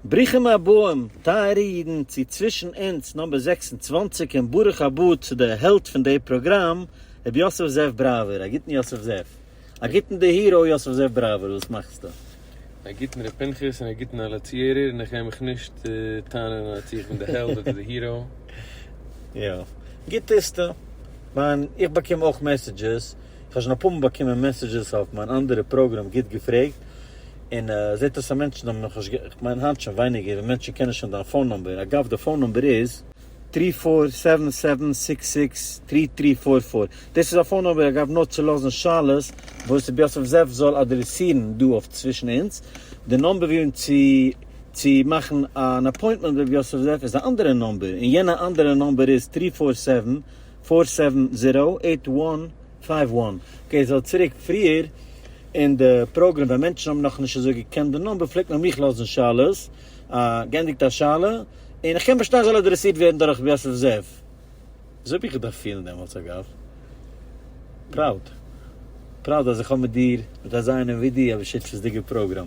ברוכים הבאים טייערע אידן צו צווישן אונז נאמבער זעקס און צוואַנציק און ברוך הבא צו די העלד פון די פראגראם רבי יוסף זאב בראווער, א גוטן יוסף זאב, א גוטן די היראו יוסף זאב בראווער וואס מאכסטו? א גוטן ר' פנחס און א גוטן אלע צוהערער און איך הער מיך נישט טענה'ן אז צו איך בין די העלד אדער די היראו. יא. גוט טוסטו. מיין איך באקום אויך מעסעדזשעס, איך האב שוין אפאר מאל באקומען מעסעדזשעס אויף מיין אנדערע פראגראם גוט געפרעגט. און ער זעט אז ס'איז מענטשן האבן נאך נישט, כ'מיין היינט שוין ווייניגער, ווען מענטשן קענען שוין דיין פאון נומבער, אגב די פאון נומבער איז, טרי פאר סעווען סעווען סיקס סיקס טרי טרי פאר פאר, דאס איז א פאון נומבער אגב נאר צו לאזן שאלות וואס ר' יוסף זאב זאל אדרעסירן דא אויף צווישן אונז, די נומבער ווי און צו צו מאכן אן אפוינטמענט מיט ר' יוסף זאב איז א אנדערע נומבער, און יענע אנדערע נומבער איז טרי פאר סעווען פאר סעווען זירא עיט וואן. פייוו וואן קעי זאל צוריק פריער אין די פראגרעם ווען מענטשן האבן נאך נישט אזוי געקענט די נומבער פלעגט מען מיך לאזן שאלות א גענדיגט א שאלה און איך קען באשטיין זאל אדרעסירט ווערן דורך רבי יוסף זאב אזוי האב איך געדארפט פילן דעמאלטס אגב פראוד פראוד אז איך האב מיט דיר מיט אזא איינעם ווי דו אויף די שותפות'דיגע פראגרעם.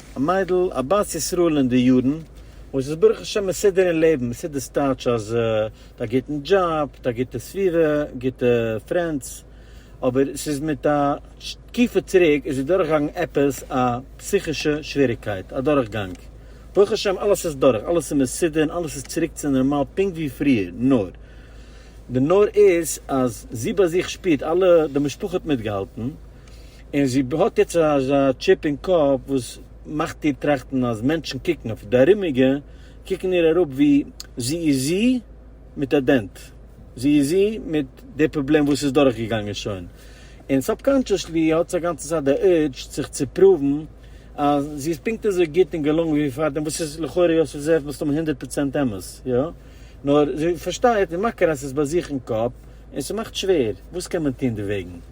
א מיידל א בת ישראל אין די יארן, וואס איז ברוך השם מסודר אין לעבן, מסודר סטייטש אז מיט א גוטן דזשאב, מיט א גוטע סביבה, גוטע פרענדס, אבער ס'איז מיט א תקופה צוריק איז זי דורכגעגאנגען עפעס א פסיכישע שוועריגקייט, א דורכגאנג, ברוך השם אלעס איז דורך, אלעס איז מסודר און אלעס איז צוריק צו נארמאל פונקט ווי פריער, נאר די נאר איז אז זי ביי זיך שפירט אלע די משפחה האט מיטגעהאלטן, און זי האט יעצט אזא טשיפ אין קאפ וואס מאכט איר טראכטן אז מענטשן קוקן אויף די ארומיגע קוקן איר אראפ ווי זי איז זי מיט א דענט, זי איז זי מיט די פראבלעם וואס איז דורך געגאנגען שוין, און סאבקאנטשעסלי האט זי א גאנצע צייט די אורג' זיך צו פראוון אז זי איז פונקט אזוי גוט און געלונגען ווי פארדעם, וואס איז לכאורה יוסף זאב מסתמא הונדערט פראצענט אמת, יא? נאר זי פארשטייט און מכיר אז ס'איז ביי זיך אין קאפ און ס'מאכט שווער, וואס קען מען טון דערוועגן?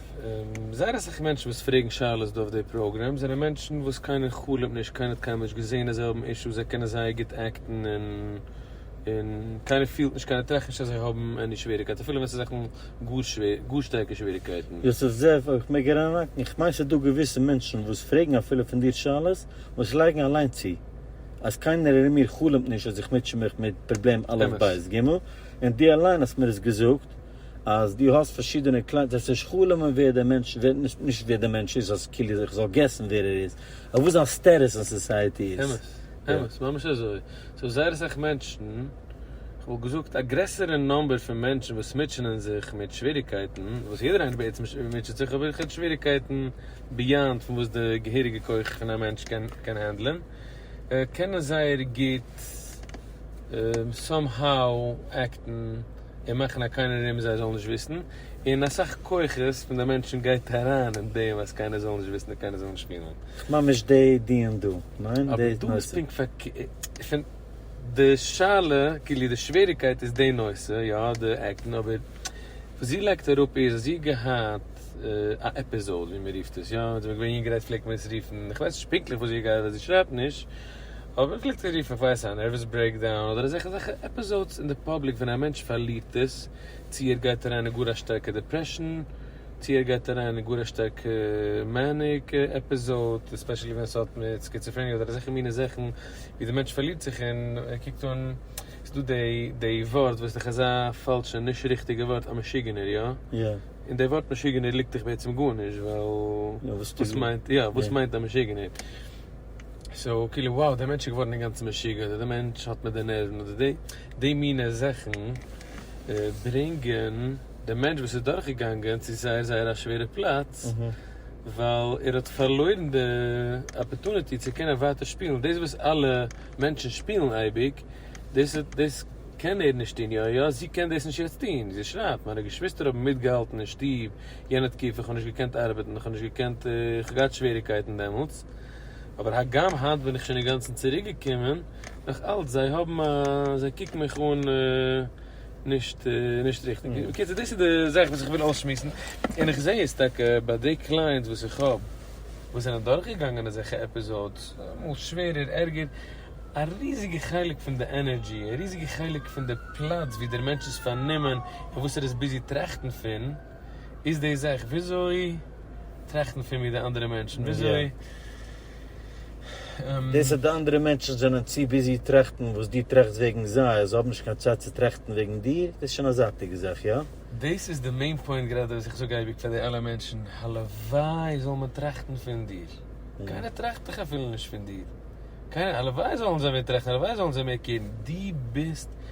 זייער אסאך מענטשן וואס פרעגן שאלות דא אויף די פראגרעם זענען מענטשן וואס קיינער חלומ'ט נישט קיינער האט קיינמאל נישט געזעהן אז זיי האבן אישוס זיי קענען זייער גוט עקטן און און קיינער פילט נישט קיינער טראכט נישט אז זיי האבן עני שוועריקייט אפילו ווען ס'איז זאכן גאר שווער גאר שטארקע שוועריקייטן. יוסף זאב אויב כ'מעג אריינהאקן, איך מיין ס'איז דא געוויסע מענטשן וואס פרעגן אפילו פון דיר שאלות וואס לייגן אליין צו אז קיינער ארום מיר חלומ'ט נישט אז איך מוטשע מיך מיט פראבלעם א' ב' ג' און דו אליין האסט מיר עס געזאגט, אז דו האסט פארשידענע קליינט זעסט נישט חלומ'ן ווער דער מענטש ווער נישט ווער דער מענטש איז אז כאילו איך זאל געסן ווער ער איז אדער וואס זיין סטעטוס אין סאסייעטי איז. אמת, אמת, ממש אזוי. ס'איז זייער אסאך מענטשן, כ'וואלט געזאגט א גרעסערע נומבער פון מענטשן וואס מוטשענען זיך מיט שוועריגקייטן, וואס יעדער איינער בעצם מוטשעט זיך אבער כ'רעד שוועריגקייטן ביאנד פון וואס די געהעריגע כח פון א מענטש קען קען הענדלען, קענען זייער גוט סאם האו עקטן. און מאכן א קארנער רום זיי זאלן נישט וויסן, און אסאך כוחות פון די מענטשן גייט אריין אין דעם אז קיינער זאל נישט וויסן און קיינער זאל נישט שפילן. ממש די דיון דא, ניין? אבער דא איז פונקט פארקערט, פון די שאלה, כאילו די שוועריקייט איז די נושא, יא די עקן, אבער וואס זי לייגט אראפ איז אז זי האט געהאט א עפיזאוד ווי מען רופט עס, יא ווען זי איז געווען יונגערהייט פלעגט מען עס רופן, איך ווייס נישט פונקטליך וואס זי האט געהאט ווייל זי שרייבט נישט, אויב איך קליק צו רופן פאר עס א נערוועס ברעיקדאון אדער אזעלכע אזעלכע עפיזאודס אין די פאבליק ווען א מענטש פארלירט עס צו ער גייט אריין אין גאר א שטארקע דעפרעשאן צו ער גייט אריין אין גאר א שטארקע מעניק עפיזאוד עספעשעלי ווען עס האט מיט סקיצעפרעניע אדער אזעלכע מיני זאכן ווי די מענטש פארלירט זיך און ער קוקט אן ס'איז דא די די ווארט וואס איז דאך אזא פאלשע נישט ריכטיגע ווארט א משוגענער יא? און די ווארט משוגענער ליגט דאך בעצם גארנישט ווייל וואס מיינט יא וואס מיינט א משוגענער? סאו כאילו wow דער מענטש איז געווארן אינגאנצן משוגע אדער דער מענטש האט מיט די נערוון אדער די די מינע זאכן ברענגען דעם מענטש וואס איז דורך געגאנגען צו זייער זייער א שווערע פלאץ ווייל ער האט פארלוירן די אפערטוניטי צו קענען ווייטער שפילן דאס וואס אלע מענטשן שפילן אייביג דאס דאס קען ער נישט טון יא יא זי קען דאס נישט יעצט טון זי שרייבט מיינע געשוויסטער האבן מיטגעהאלטן אין שטוב יענע תקופה איך האב נישט געקענט ארבעטן איך האב נישט געקענט איך האב געהאט שוועריקייטן דעמאלטס אבער הגם היינט בין איך שוין אינגאנצן צוריק געקומען נאך אלץ זיי האבן א זיי קוקן מיך אן נישט נישט ריכטיג בקיצור דאס איז די זאך וואס איך וויל אויסשמועסן און איך זעה עס טאקע ביי די קלייענטס וואס איך האב וואס זענען דורך געגאנגען אזעלכע עפיזאודס אמאל שווערער ערגער א ריזיגע חלק פון די ענערדזשי א ריזיגע חלק פון די פלאץ ווי דער מענטש איז פארנומען און וואס ער איז ביזי טראכטן פון. איז דאס עכט וויאזוי טראכטן פון מיר די אנדערע מענטשן וויאזוי. דאס אז די אנדערע מענטשן זענען צו ביזי טראכטן וואס דו טראכסט וועגן זיי אז זיי האבן נישט קיין צייט צו טראכטן וועגן דיר דאס איז שוין א זייטיגע זאך איא? דאס איז די מעין פוינט גראדע וואס איך זאג אייביג פאר די אלע מענטשן הלוואי זאל מען טראכטן פון דיר קיינער טראכט דאך אפילו נישט פון דיר קיינער הלוואי זאלן זיי מער טראכטן הלוואי זאלן זיי מער קעירן דו ביסט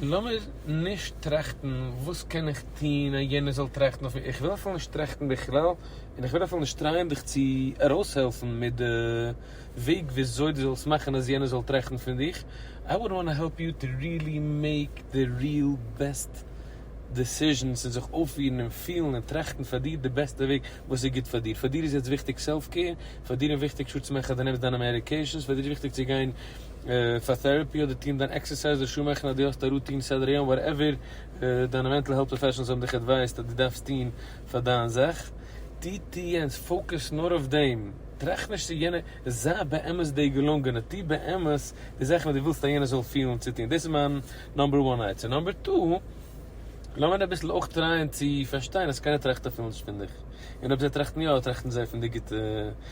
לאמיר נישט טראכטן וואס קען איך טון אז יענער זאל טראכטן אויף מיר, איך וויל אפילו נישט טראכטן בכלל, און איך בין אפילו נישט טרייען דיך צו ארויסהעלפן מיט די וועג וויאזוי דו זאלסט מאכן אז יענער זאל טראכטן פון דיך, איי וואלד וואנט טו העלפ יו טו ריעלי מעיק די ריעל בעסט דעסיזשענס און זיך אויפפירן און פילן און טראכטן פאר דיר די בעסטע וועג וואס איז גוט פאר דיר, פאר דיר איז יעצט וויכטיג סעלף קעיר, פאר דיר איז וויכטיג שור צו מאכן אז דו נעמסט דיינע מעדיקעישאנס, פאר דיר איז וויכטיג צו גיין. פאר טעראפי אדער טוהן דיין עקסערסייז אדער שעה מאכן א דורכט א רוטין סדר היום וואטעווער דיינע מענטל העלט פראפעשענעלס האבן דיך עדווייזט אז דו דארפסט טוהן פאר דיין זאך טו טו יענץ פאוקעס נאר אויף דעם טראכט נישט צו יענער זיי באמת די געלונגענע טו באמת די זאכן וואס דו ווילסט אז יענער זאל פילן צו טוהן דאס איז מיין נאמבער וואן עצה נאמבער טו לאמיר אביסל אויך טרייען צו פארשטיין אז קיינער טראכט אפילו נישט פון דיך און אויב זיי טראכטן יא טראכטן זיי פון די גוטע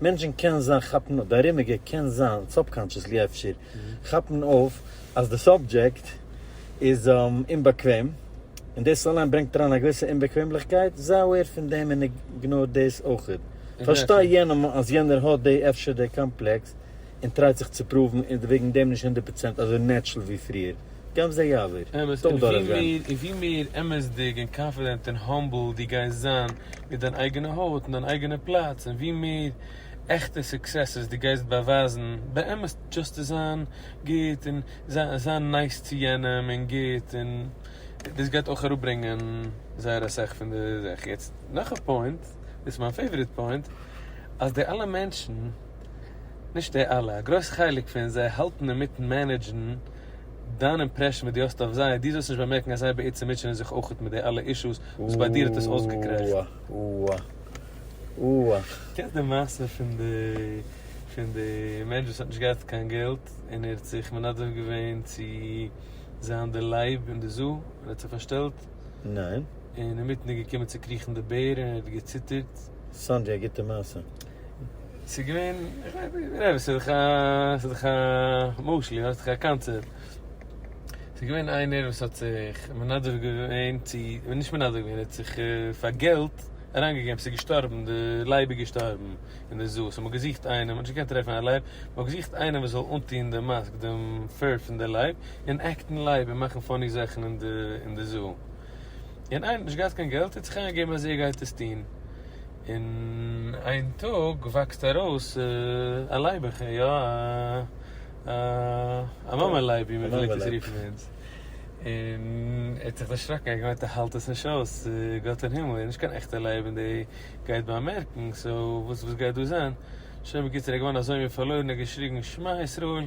מענטשן קען זיין כאפן אויף, די ארומיגע קען זיין, סאבקאנטשעסלי אפשר, כאפן אויף אז די סאבדזשעקט איז אומבאקוועם, און דאס אליין ברענגט אריין א געוויסע אומבאקוועמליכקייט, זיי אוועיר פון דעם און איגנאר דאס אויכעט. פארשטיי יענעם אז יענער האט די, אפשר די, קאמפלעקס און טרייט זיך צו פראוון און איז וועגן דעם נישט הונדערט פראצענט אזוי נעטשל ווי פריער. געב זיי יעזור. אמת, און ווי מער און ווי מער אמת'דיג און קאנפידענט און האמבל דו גייסט זיין מיט דיין אייגענע הויט און דיין אייגענע פלאץ, און ווי מער עכטע סוקסעסעס דו גייסט באווייזן באמת דשאסט צו זיין גוט און זיין נייס צו יענעם און גוט, און דאס גייט אויך אראפברענגען זייער אסאך פון די זאך. יעצט נאך א פוינט, דאס איז מיין פעיוואריט פוינט, אז די אלע מענטשן, נישט די אלע, א גרויס חלק פון זיי האלטן אינמיטן מענעדזשן, דיין אימפרעשן וואס דו האסט אויף זיי, דו זאלסט נישט באמערקן אז זיי בעצם מוטשענען זיך אויך מיט די אלע אישוס וואס ביי דיר האט עס אויסגעקרעכט. אוה אוה אוה. קענסט די מעשה פון די פון די מענטש וואס האט נישט געהאט קיין געלט און ער האט זיך מנדב געווען צו זיין די לייב אין די זו און האט זיך פארשטעלט? ניין. און אינמיטן איז געקומען צו קריכן די בער און ער האט געציטערט. סאנדזשי א גוטע מעשה. ס'איז געווען, כ'ווייס נישט, ס'איז דאך א, ס'איז דאך א משל, יא, ס'איז דאך א קאנצעפט. ס'איז געווען איינער וואס האט זיך מנדב געווען צו, נישט מנדב געווען, ער האט זיך פאר געלט אריינגעגעבן, ס'איז געשטארבן, די לייב איז געשטארבן אין די זוהן, סאו מ'האט געזוכט איינעם, מ'האט נישט געקענט טרעפן א לייב, מ'האט געזוכט איינעם וואס זאל אנטוהן די מאסק, דעם פור פון די לייב, און עקטן לייב און מאכן פאני זאכן אין די זוהן. און איינער האט נישט געהאט קיין געלט האט זיך אריינגעגעבן אז ער גייט עס טון און איין טאג וואקסט ארויס א לייביך יא א א מאמע לייב ווי מען פלעגט עס רופן ביי אונז און ער האט זיך דערשראקן ער האט געמיינט ער האלט עס נישט אויס גאט אין הימל איז נישט קיין עכטע לייב און דער גייט באמערקן סאו וואס גייט דא זיין? שוין בקיצור ער איז געווארן אזוי מין פארלוירן ער האט געשריגן שמע ישראל.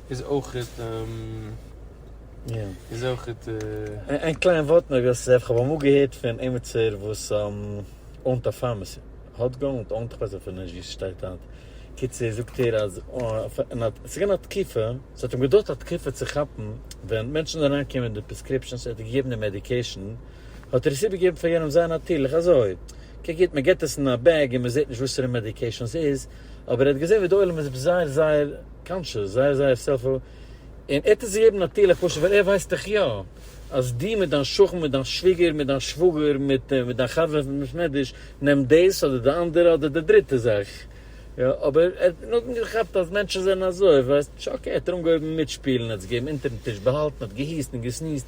איז אויכעט איז אויכעט. איין קליין ווארט נאר געוואלט צו זיי כ'האב אמאל געהערט פון עימיצער וואס אונט א פארמעסי האט געאונט אונט כ'ווייס אפילו נישט ווי ס'שטייט היינט קיצור זאגט ער אז ס'איז געווען א תקופה ס'האט אים געדויערט א תקופה צו כאפן ווען מענטשן זענען אריין געקומען מיט די פרעסקריפשאנס ער האט געגעבן די מעדיקעישן האט ער עס איבערגעגעבן פאר יענעם זייער נאטירליך אזוי קען גוט מ'געט עס אין א בעג און מ'זעהט נישט וואסערע מעדיקעישן ס'איז אבער ער האט געזעהן ווי די עולם איז זייער זייער קאנטשעס, זייער זייער סעלפו, און ער האט עס געגעבן נאטירליך פשוט ווייל ער ווייסט דאך יא אז דו מיט דיין שכן מיט דיין שוויגער מיט דיין שוואגער מיט מיט דיין חבר וועסט נישט נעדיש נעמט דאס אדער די אנדערע אדער די דריטע זאך יא אבער ער האט נאכדעם געכאפט אז מענטשן זענען אזוי ווייסט נישט אקעי האט ער אנגעהויבן מיטשפילן ער האט זיך געגעבן אונטערן טיש באהאלטן האט געהוסט און געסניזט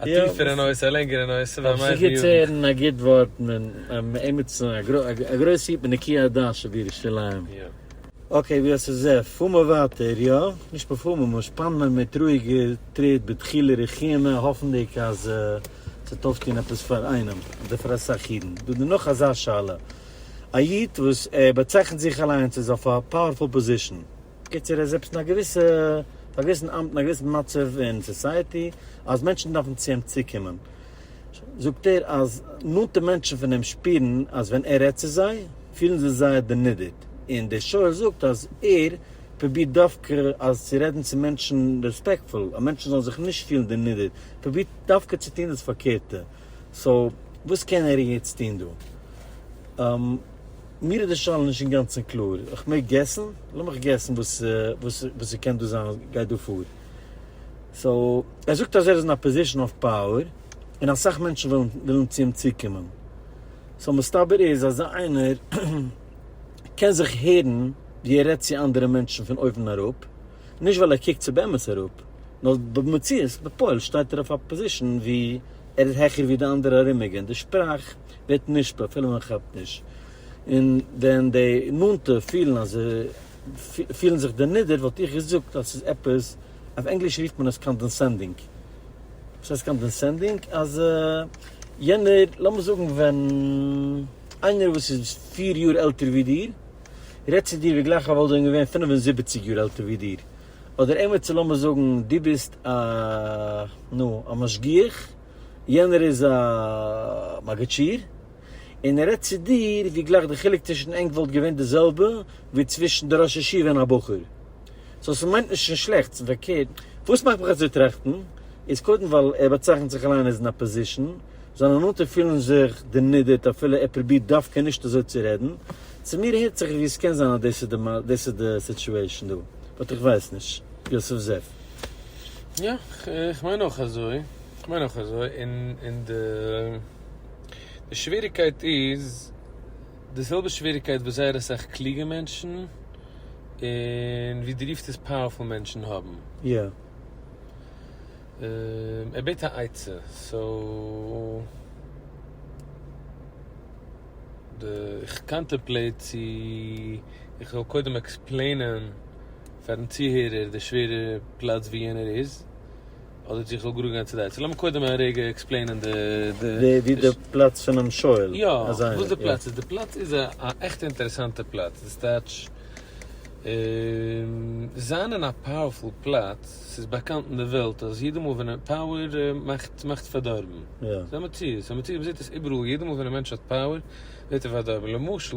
א טיפערע נושא, א לענגערע נושא, ווען מ'הייבט די יארן. אויף זיך געטון א גוט ווארט און עמיצן א גרויס היפ בנקי הדעת של דיר ירושלים. יא. אקעי ווי האסט עס זע? פאר מיר ווייטער יא? נישט פארפאר מיר, מיר שפאנען מיר מיט רואיגע טריט בדחילו רחימה האפנדיג אז ס'וועט אויפטון עפעס פאר איינעם אדער פאר אסאך אידן. דא איז נאך אזא שאלה. א איד וואס ער באצייכנט זיך אליינס איז אויף א פאוערפול פאזישן. בקיצור ער איז עפעס אין א געוויסע א געוויסן אמט אין א געוויסן מצב אין סאסייעטי אז מענטשן דארפן צו אים צוקומען זאגט ער אז נאנטע מענטשן פון אים שפירן אז ווען ער רעדט צו זיי פילן זיי זייער דערנידערט און דער שואל זאגט אז ער פרובירט דווקא אז צו רעדן צו מענטשן רעספעקטפול אז מענטשן זאלן זיך נישט פילן דערנידערט פרובירט דווקא צו טון דאס פארקערטע סאו וואס קען ער יעצט טון דא? מיר איז די שאלה נישט אינגאנצן קלאר, איך מעג געסן? לאמיך געסן וואס ס'קען דא זיין וואס גייט דא פאר. סאו, ער זאגט אז ער איז אין א פאזישאן אוו פאוער, און אסאך מענטשן ווילן צו אים צוקומען. סאו מסתבר איז אז איינער קען זיך הערן ווי ער רעדט צו אנדערע מענטשן פון אויבן אראפ, נישט ווייל ער קוקט צו באמת אראפ, נאר במציאות בפועל שטייט ער אויף א פאזישאן ווי ער איז העכער ווי די אנדערע ארומיגע און די שפראך, ווערט נשפע אפילו מען כאפט נישט, און ווען די נאנטע פילן אז זיי פילן זיך דערנידערט וואלט איך געזאגט אז ס'איז עפעס, אויף ענגליש רופט מען עס קאנדענסענדינג, וואס הייסט קאנדענסענדינג? אז יענער, לאמיר זאגן ווען איינער וואס איז פיר יאר עלטער ווי דיר רעדט צו דיר ווי גלייך ער וואלט ווען געווען פֿינף און זיבעציק יאר עלטער ווי דיר, אדער עימיצער לאמיר זאגן דו ביסט א נו א משגיח, יענער איז א מגדשיר און ער רעדט צו דיר ווי גלייך די חילוק צווישן ענק וואלט געווען די זעלבע ווי צווישן די ראש ישיבה און א בחור, סאו ס'מיינט נישט קיין שלעכטס, פארקערט וואס מאכט מיך אזוי טראכטן איז קודם ווייל ער באצייכנט זיך אליין עז אן אפאזישן, זיינע נאנטע פילן זיך דערנידערט אפילו ער פרובירט דווקא נישט אזוי צו רעדן, צו מיר הערט זיך ווי עס קען זיין אז דאס איז די סיטועשאן דא, באט איך ווייס נישט. יוסף זעף. יא, איך מיין אויך אזוי, איך מיין אויך אזוי, און און די די שוועריקייט איז די זעלבע שוועריקייט וואס זייער אסאך קלוגע מענטשן און ווי דו רופסט עס פאוערפול מענטשן האבן. יא. ער בעט א עצה סאו איך קאנטעמפלעיט צו איך זאל קודם עקספלעינען. פארן צוהערער די שווערע פלאץ ווי יענער איז, אדער צו איך זאל גראד גיין צו די עצה? לאמיר קודם א רגע עקספלעינען די. ווי די פלאץ פונעם שואל. יא, וואס די פלאץ איז. די פלאץ איז א עכטע אינטערעסאנטע פלאץ. דאס טייטש, זיין אין א פאוערפול פלאץ, ס'איז באקאנט אין די וועלט אז יעדע מאל ווען פאוער מאכט מאכט פארדארבן. ס'איז א מציאות. ס'איז א מציאות, מ'זעט עס איבעראל, יעדע מאל ווען א מענטש האט פאוער, ווערט ער פארדארבן. למשל.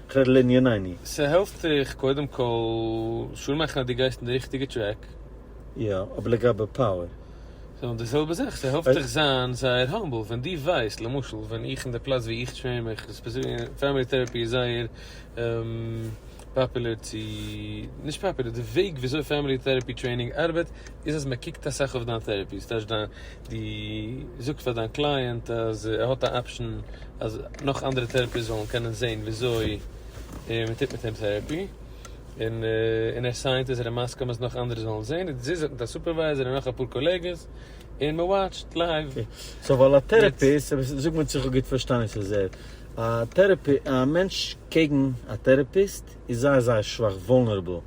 כ'רעד לעניניני. ס'העלפט זיך קודם כל שור מאכן אז דו גייסט אין די ריכטיגע טרעק. יא, אבער לגבי פאוער? ס'נאך די זעלבע זאך, ס'העלפט דיך זיין זייער האמבל, ווען דו ווייסט, למשל ווען איך אין די פלאץ ווי איך טרעין מיך, פריימערי טעראפי איז זייער פאפולער צו, נישט פאפולער, די וועג וויאזוי פריימערי טעראפי טרעינינג ארבעט איז אז מ'קוקט אסאך אויף דיין טעראפי, ס'טייטש דיין די זאגסט פאר דיין קלייענט אז ער האט א אפשען אז נאך אנדערע טערעפיס זאלן קענען זעהן וויאזוי מען טוט מיט אים טערעפי, און און ער סיינט אז ער איז מסכים אז נאך אנדערע זאלן זעהן, און זיי זענען מיט א סופערווייזער און נאך אפאר קאלעגעס, און מען וואטשט לייוו. אקעי, סאו ווייל א טערעפיסט, זאג מיר צו איך האב גוט פארשטאנען וואס איז ער, א טערעפי, א מענטש קעגן א טערעפיסט איז זייער זייער שוואך, וואלנערעבל.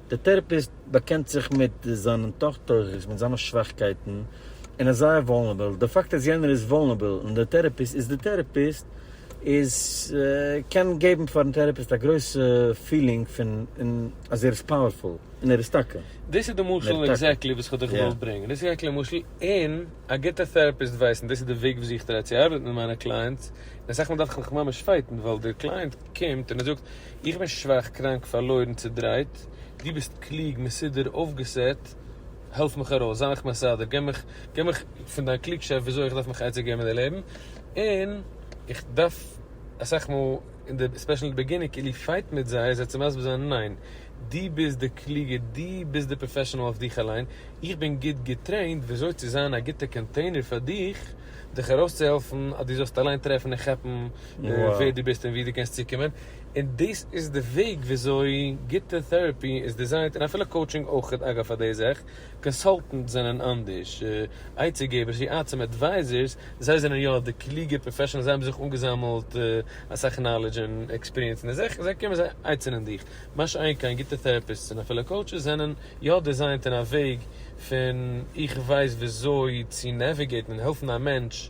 דער טערעפיסט באקענט זיך מיט זיין אנטאכטעריש מיט זיינע שוואכקייטן און איז זייער וואלנערביל, די פאקט אז יענער איז וואלנערביל און דער טערעפיסט איז דער טערעפיסט איז קען געבן פארן טערעפיסט א גרויסע פילינג פון און אז ער איז פאוערפול און ער איז טאקע און ער איז טאקע. דאס איז די משל עקזעקטלי וואס איך האב דיך געוואלט ברענגען, דאס איז עקזעקטלי א משל און א גוטע טערעפיסט ווייסט און דאס איז די וועג וויאזוי איך טריי צו ארבעטן מיט מיינע קלייענטס און אסאך מאל דארף איך מיך ממש פייטן ווייל דער קלייענט קומט און ער זאגט איך בין שוואך, קראנק, פארלוירן, צודרייט, דו ביסט קלוג, מסודר, אויפגעסעט, העלף מיך ארויס, זיי מיך מסדר, גיב מיך, גיב מיך פון דיין קלוגשאפט וויאזוי איך דארף מיך עצה געבן אין די לעבן, און איך דארף אסאך מאל אין די ספעשל אין די בעגינונג כאילו פייט מיט זיי זיי צו מסביר זיין ניין, דו ביסט די קלוגע, דו ביסט די פראפעשענעל אויף דיך אליין, איך בין גוט געטרעינט וויאזוי צו זיין א גוטע קאנטעינער פאר דיך, דיך ארויסצוהעלפן אז דו זאלסט אליין טרעפן און כאפן ווער דו ביסט און וואו דו קענסט צוקומען, און דאס איז די וועג וויאזוי גוטע טעראפי איז דיזיינט, און אפילו קאוטשינג אויך אגב פאר די זאך, קאנסאלטענטס זענען אנדערש, עצה געבערס ווי עצם עדווייזערס, זיי זענען יא די קלוגע פראפעשענעלס, זיי האבן זיך אנגעזאמעלט אסאך נאלעדזש און עקספיריענס אין די זאך, און זיי קומען זיי עצה'נען דיך, מה שאין כן גוטע טעראפיסטס און אפילו קאוטשעס זענען. יא דיזיינט אין א וועג פון איך ווייס וויאזוי צו נעוויגעיטן און העלפן א מענטש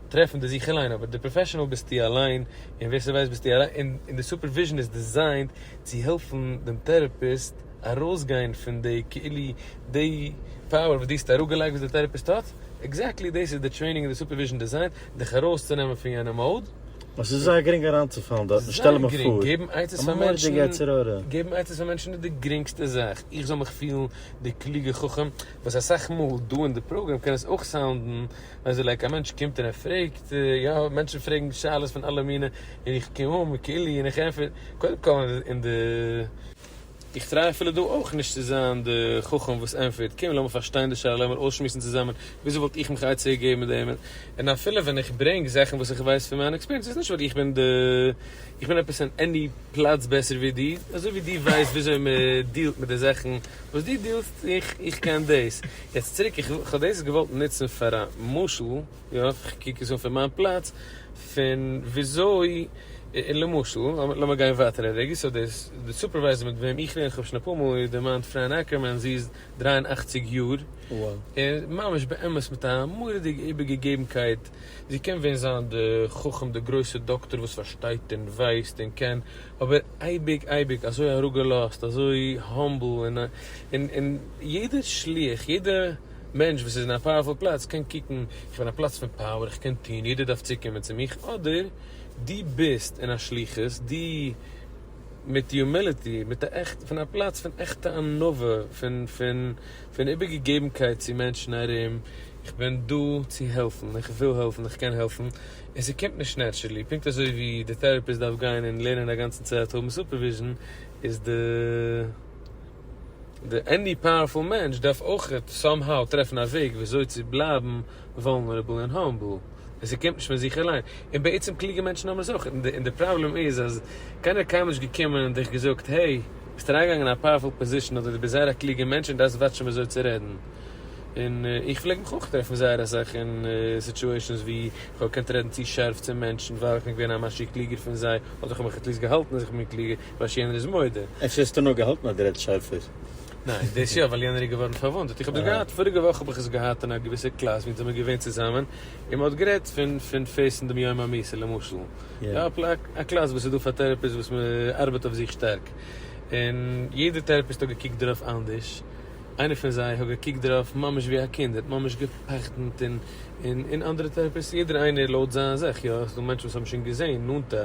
טרעפן די זיך אליין אבער די פראפעשענעל ביסטו אליין און ווער ס'ווייסט ביסטו אליין און און די סופערוויזשען איז דיזיינט צו העלפן דעם טערעפיסט ארויסגיין פון די כאילו די פאוער וואס דו האסט אראפגעלייגט וואס די טערעפיסט האט עקזעקטלי דאס איז די טרעינינג און די סופערוויזשען דיזיינט דיך ארויסצונעמען פון יענע מאוד. עס איז זייער גרינג אריינצופאלן דארטן, שטעל מיר פאר, געבן עצות פאר מענטשן, געבן עצות פאר מענטשן איז די גרינגסטע זאך, איך זאל מיך פילן די קלוגע חכם, וואס אסאך מאל דא אין די פראגרעם קען עס אויך סאונדן, ווען ס'איז לייק א מענטש קומט און ער פרעגט, יא, מענטשן פרעגן שאלות פון אלע מיני, און איך קום אן מיט כולי און איך ענטפער, קודם כל אין די. איך טריי אפילו דא אויך נישט צו זיין די חכם וואס ענטפערט, קום לאמיר פארשטיין די שאלה, לאמיר אויסשמועסן צוזאמען, וויאזוי וואלט איך מיך עצה געגעבן מיט דעם, און אפילו ווען איך ברענג זאכן וואס איך ווייס פון מיין עקספיריענס איז נישט ווייל איך בין די, איך בין עפעס אין עני פלאץ בעסער ווי דו, אזוי ווי דו ווייסט וויאזוי מען דיעלט מיט די זאכן וואס דו דיעלסט, איך קען דאס, יעצט צוריק, איך האב דאס געוואלט נוצן פאר א משל. יא, כ'קוק עס אן פון מיין פלאץ, פון וויאזוי, למשל, לאמיר גיין ווייטער א רגע, סאו דער סופערווייזער מיט וועם איך לערן, כ'האב שוין אפאר מאל איר דערמאנט, פריין אקערמאן, זי איז דרײַ און אַכציק יאר, און ממש באמת מיט א מורא'דיגע איבערגעגעבנקייט, זי קען ווען זיין די חכם, די גרויסע דאקטאר וואס פארשטייט און ווייסט און קען, אבער אייביג אייביג אזוי אראפגעלאזט, אזוי האמבל, און יעדער שליח, יעדע. מענטש וואס איז אין א פאוערפול פלאץ קען קוקן, איך בין א פלאץ פון פאוער, איך קען טון, יעדער דארף צוקומען צו מיך, אדער דו ביסט אין א שליחות, דו מיט יומיליטי, מיט א עכט, פון א פלאץ פון עכטע ענווה, פון פון פון איבערגעגעבנקייט צו מענטשן ארום, איך בין דא צו העלפן, איך וויל העלפן, איך קען העלפן, און ס'קומט נישט נעטשרעלי, פונקט אזוי ווי די טעראפיסט דארף גיין און לערנען א גאנצן צייט האבן סופערוויזשן, איז די. די עני פאוערפול מענטש דארף אויך סאם האו טרעפן א וועג וויאזוי צו בלייבן וואלנערעבל און האמבל, און ס'קומט נישט פון זיך אליין, און בעצם קלוגע מענטשן האבן עס אויך, און די פראבלעם איז אז קיינער האט קיינמאל נישט געקומען און דיך געזאגט העי, ביסט אריינגעגאנגען אין א פאוערפול פאזישן אדער די ביסט זייער א קלוגע מענטש און דארפסט וואטשן וויאזוי צו רעדן, און איך פלעג מיך אויך טרעפן זייער אסאך אין סיטועשאנס ווי איך האב געקענט רעדן צו שארף צו מענטשן ווייל איך בין געווען א משהו קלוגער פון זיי, אדער איך האב מיך עטליעסט געהאלטן אז איך בין קלוגער, ווייל שיינער איז מודה. אפשר האסטו נאר געהאלטן אז דו רעדסט שארפער. ניין, דאס יא, ווייל יענער איז געווארן פארוואונדעט. איך האב דאס געהאט, פאריגע וואך האב איך עס געהאט אין א געוויסע קלאס ווי אונז זעמיר געווען צוזאמען, און מ'האט גערעדט פון פון פעיסן דעם יום המיסה למשל. יא. א קלאס וואס איז דא פאר טערעפיסט וואס מ'ארבעט אויף זיך שטארק. און יעדער טערעפיסט האט געקוקט דערויף אנדערש. איינער פון זיי האט געקוקט דערויף ממש ווי א קינד, ער האט ממש געפחד'נט און און און אנדערע טערעפיסטן, יעדער איינער לויט זיין זעך. יא, ס'דא מענטשן וואס האבן שוין געזען נאנטע.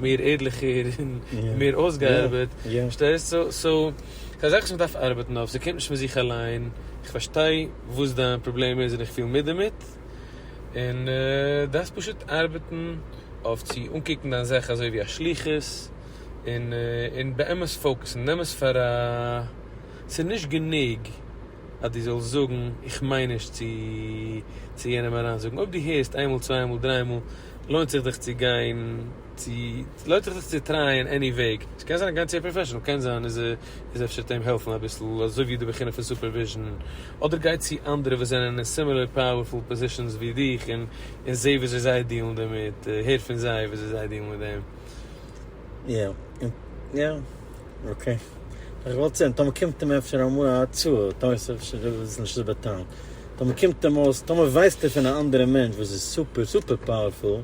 מער ערליכער און מער אויסגעארבעט, פארשטייסט? סאו ס'איז א זאך וואס מען דארף ארבעטן אויף, ס'קומט נישט פון זיך אליין, איך פארשטיי וואס דיין פראבלעם איז און איך פיל מיט דערמיט, און דארפסט פשוט ארבעטן אויף צו אנקוקן דיין זאך אזוי ווי א שליחות, און און באמת פאוקעסן, נעם עס פאר א, ס'איז נישט גענוג אז דו זאלסט זאגן איך מיין נישט צו צו יענעם אריינזאגן, אויב דו הערסט איינמאל צוויי מאל דריי מאל. לוינט זיך דיך צו גיין צו לוינט זיך דיך צו טרייען עני וועג ס'קען זיין גיין צו א פראפעשענעל קען זיין איז איז אפשר וועט אים העלפן אביסל אזוי ווי די בחינה פון סופערוויזשן אדער גיי צו אנדערע וואס זענען אין סימילער פאוערפול פאזישאנס ווי דיך און און זע וויאזוי זיי דיעלן דערמיט הער פון זיי וויאזוי זיי דיעלן מיט דעם. יא יא אקעי איך וואלט צוען טאמער קומט אים אפשר אמאל א הצעה טאמער איז אפשר דאס איז נישט זיבער טאון טאמער קומט אים אויס טאמער ווייסט ער פון א אנדערע מענטש וואס איז סופער סופער פאוערפול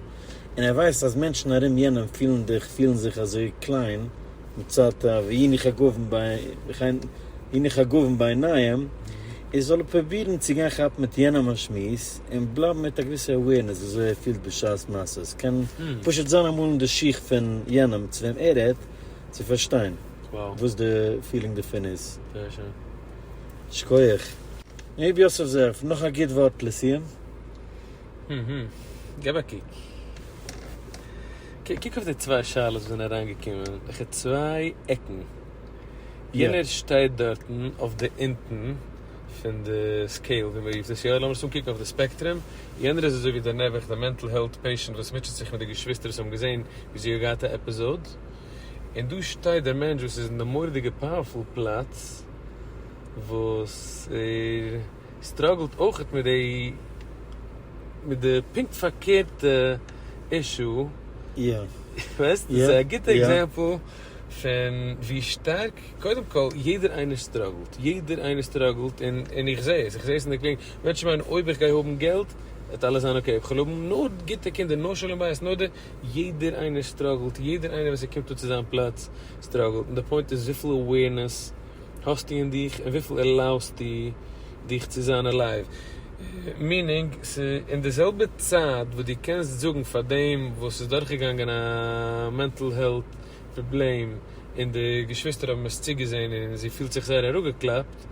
און ער ווייסט אז מענטשן ארום יענעם פילן דיך פילן זיך אזוי קליין מצד א והנה חגבן והנה חגבן בעיניים איז זאל ער פרובירן צו גיין כאפן מיט יענעם א שמועס. און בלייבן מיט א געוויסע אווערנעס וויאזוי ער פילט בשעת מעשה, עס קען פשוט זיין אמאל אין די שיך פון יענעם צו וועם ער רעדט, צו פארשטיין וואס די פילינג דערפון איז. זייער שיין. שכוח. ר' יוסף זאב, נאך א גוט ווארט לסיום? אהממ. געב א קוק. קוק אויף די צוויי שאלות וואס זענען אריינגעקומען, וועלכע צוויי עקן? יענער שטייט דארטן אויף די אונטן. פון די סקעיל ווי מ'רופט עס יא, לאמיר עס אנקוקן אויף די ספעקטרום, יענער איז אזוי ווי דער נעבעך דער מענטל העלט פעישענט וואס מוטשעט זיך מיט די געשוויסטער וואס האבן געזען ווי זי האט געהאט א עפיזאד, און דא שטייט דער מענטש וואס איז אין די מורא'דיגע פאוערפול פלאץ וואס ער סטראגלט אויכעט מיט די מיט די פונקט פארקערטע אישו, יא, יא, יא, ווייסט? ס'איז א גוטע עקזעמפל. פון ווי שטארק, קודם כל יעדער איינער סטראגלט, יעדער איינער סטראגלט און און איך זעה עס, איך זעה עס אין די קלינג, מענטשן מיינען אויב איך גיי האבן געלט וועט אלעס זיין אקעי, איך וועל האבן נאר גוטע קינדער, נאר שלום בית, נאר די, יעדער איינער סטראגלט, יעדער איינער ווען ס'קומט אן צו זיין פלאץ סטראגלט, און די פוינט איז וויפיל אווערנעס האסטו אין דיך און וויפיל עלאוסטו דיך צו זיין אלייוו, מינינג ס'אין די זעלבע צייט וואס דו קענסט זאגן פאר דעם וואס איז דורכגעגאנגען א מענטל העלט פראבלעם און די געשוויסטער האבן עס צוגעזען און זי פילט זיך זייער אראפגעקלאפט,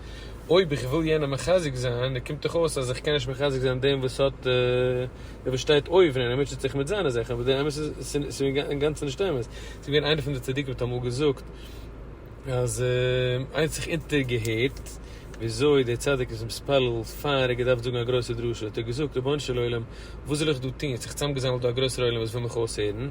אויב איך וויל יענעם מחזק זיין, נו קומט דאך אויס אז איך קען נישט מחזק זיין דעם וואס האט דעם וואס שטייט אויבן און ער מוטשעט זיך מיט זיינע זאכן, אבער די אמת איז ס'איז אינגאנצן נישט אמת, ס'איז געווען איינער פון די צדיקים האט אמאל געזאגט אז איינס זיך אונטערגעהערט וויאזוי דער צדיק איז מתפלל פאר ער האט געדארפט זאגן א גרויסע דרשה האט ער געזאגט רבונו של עולם וואס זאל איך דא טון ס'איז זיך צוזאמגעזאמלט דא א גרויסער עולם וואס וויל מיך אויסהערן,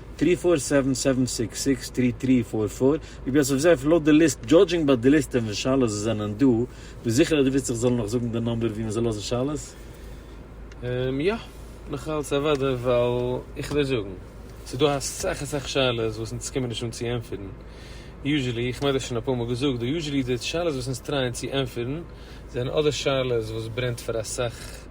טרי פאר סעווען סעווען סיקס סיקס טרי טרי פאר פאר, רבי יוסף זאב, לויט די ליסט, דזשאדזשינג ביי די ליסט און ווי שאלות עס זענען דא, ביסט זיכער אז דו ווילסט איך זאלל נאך זאגן די נאמבער ווי מען זאל לאזן שאלות? יא, מיכאל ס'איז אוודאי ווייל איך וועל זאגן, ס'איז דא אסאך אסאך שאלות וואס אונז קומען נישט אן צו ענטפערן, יוזשעלי, איך מיין דאס שוין אפאר מאל געזאגט דא, יוזשעלי די שאלות וואס אונז טרייען צו ענטפערן זענען אדער שאלות וואס ברענט פאר אסאך,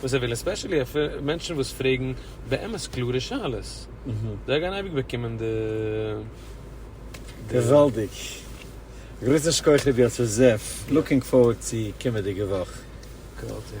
וואס זיי ווילן, עספעשעלי אויף מענטשן וואס פרעגן באמת קלארע שאלות. זיי גייען אייביג באקומען די די. געוואלדיג! גרויסע שכח רבי יוסף זאב! לוקינג פארווארד צו קומעדיגע וואך. געוואלדיג!